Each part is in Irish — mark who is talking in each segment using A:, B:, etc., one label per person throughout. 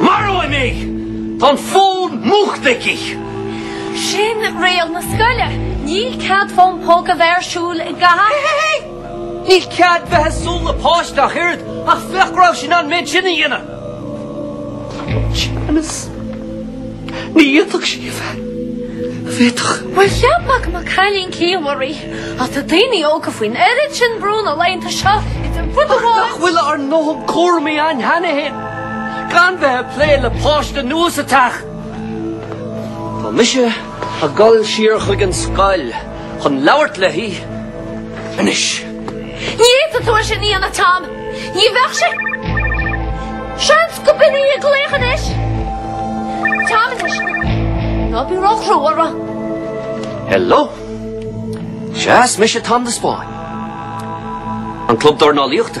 A: Maróidh mé! Tá an fón múchta aici! Sin riail na scoile! Níl cead fón póca a bheith ar siúl agat! Níl cead bheith ag súil le páiste ach oiread, ach féach go raibh sí in ann an méid sin a dhéanamh! Séamus, Ní fhéadfadh sí a bheith, a' bhféadfadh? Bhuel, cheap mé go mba cailín ciallmhar í, ach tá daoine óga faoin oiread sin brú na laethanta seo, idir rud amháin. Ach nach bhfuil ár ndóthain cúraimí a'inn cheana féin, gan bheith a' plé le páiste nua sa teach. Tá mise a' gul siar chuig an scoil chun labhairt léi anois. Ní fhéadfadh tú é sin a dhéanamh, Tom. Ní bheadh sé. Seans go b'in í ag glaoch anois. Tom, anois. Ná bí ró-chrua uirthi. Hello. Sea, is mise Tom de Spáinn. An club dornálaíochta.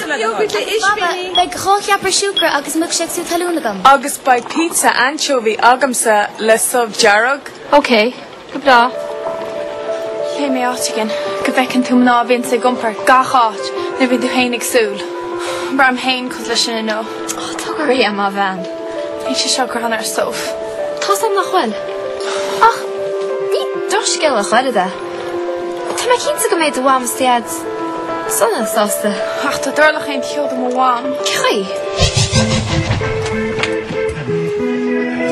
A: Beidh iógart le hispíní. Baba, beidh dhá cheapaire siúcra agus milkshake sú talún agam. Agus beidh pizza ainseobhaí agamsa le subh dearg. Ok, go breá. Léigh mé áit éigin go bhfeiceann tú mná a bhíonns ag iompar gach áit nuair a bhíonn tú féin ag súil. Braithim féin cosúil leis sin inniu. Oh, tóg go réidh é, maith an bhean. Níl sé seo greannmhar, Sadhbh. Tá's am nach bhfuil. Ach ní do scéal a chroí. Tá mé cinnte go mbeidh do mham is deaid sona sásta. Ach tá dorlach éan ceoil do mo mham. Cailleadh í.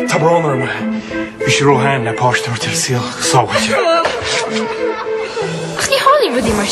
A: Tá brón orm. Bhí sí róshean le páiste a thabhairt ar saol go sábháilte. Ach ní tharlaíonn rudaí mar sin.